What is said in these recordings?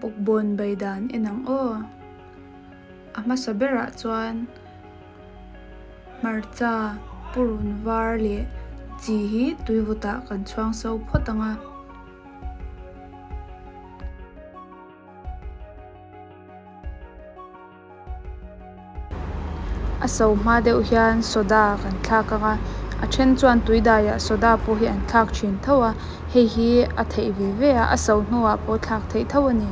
Bawkbawn bai dan en ang aw. A hmasa berah chuan hmarcha purun var leh chi hi tuivutah kan chhuang so phawt ang a. A so hma deuh hian soda kan thlak ang a, a then chuan tui daiah soda pawh hi an thlak thin tho a, hei hi a theih ve ve a, a so hnuah pawh thlak theih tho a ni.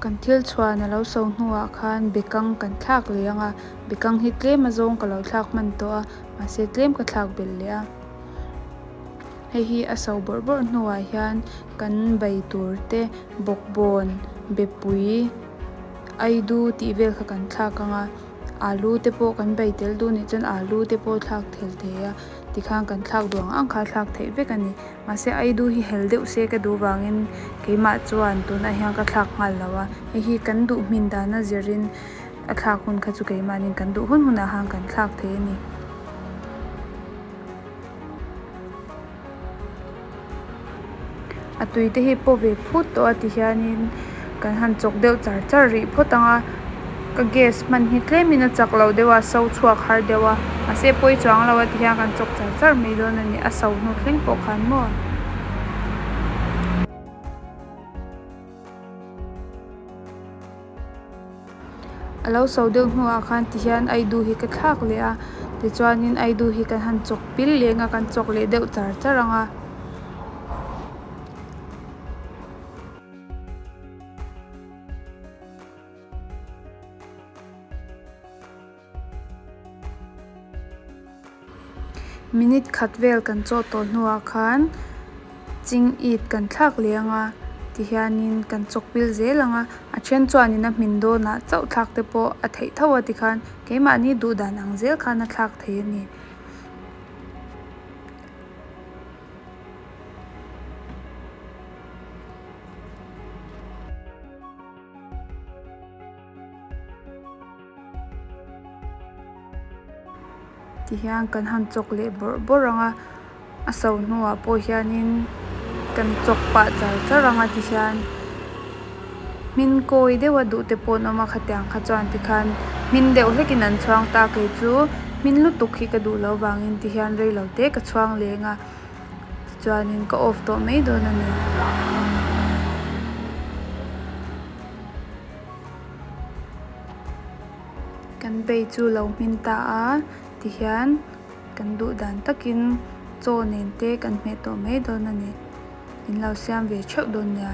Kan thil chhuan a lo so hnuah khan bekang kan thlak leh ang a, bekang hi tlem a zawng ka lo thlak hman tawh a, mahse tlem ka thlak belh leh a. Hei hi a so bawrh bawrh hnuah hian kan bei tur te, bawkbawn, bepui, aidu tih vel kha kan thlak ang a. Alu te pawh kan bei tel duh nih chuan alu te pawh thlak thel thei a, tikhan kan thlak duh ang ang kha thlak theih vek a ni. Mahse ai duh hi hel deuh se ka duh vangin keimah chuan tunah hian ka thlak nghal lo a, hei hi kan duh hmin dana zirin a thlak hun kha chu keimahnin kan duh hun hunah han kan thlak thei a ni. A tui te hi paw ve phut tawh a tihianin kan han chawk deuh char char rih phawt ang a ka gas hman hi tlem in a chak loh deuh a so chhuak har deuh a mahse pawi chuang lo a ti hian kan chawk char char mai dawn a ni a so hnu thleng pawh khan maw. A lo so deuh hnuah khan ti hian aidu hi ka thlak leh a tichuanin aidu hi ka han chawk pil leh ang a kan chawk leh deuh char char ang a. Minute khat vel kan chaw tawh hnuah khan Ching It kan thlak leh ang a, ti hianin kan chawkpil zel ang a, a then chuanin a hmin dawnah chauh thlak te pawh a theih tho a ti khan keimahni duh dan ang zel khan a thlak thei a ni. Tihian kan han chawk leh bawrh bawrh ang a, a so hnuah pawh hianin kan chawk pah char char ang a tihian hmin kawi deuha duh te pawh an awm a khatiang kha chuan tikhan hmin deuh hlekin an chhuang ta a keichu hmin lutuk hi ka duh loh avangin tihian reilo te ka chhuang leng a tichuanin ka off tawh mai dawn a ni. Kan bei chu lo hmin ta a ti hian kan duh dan takin chaw nen te kan hmeh tawh mai dawn a ni. In lo siam ve theuh dawn nia.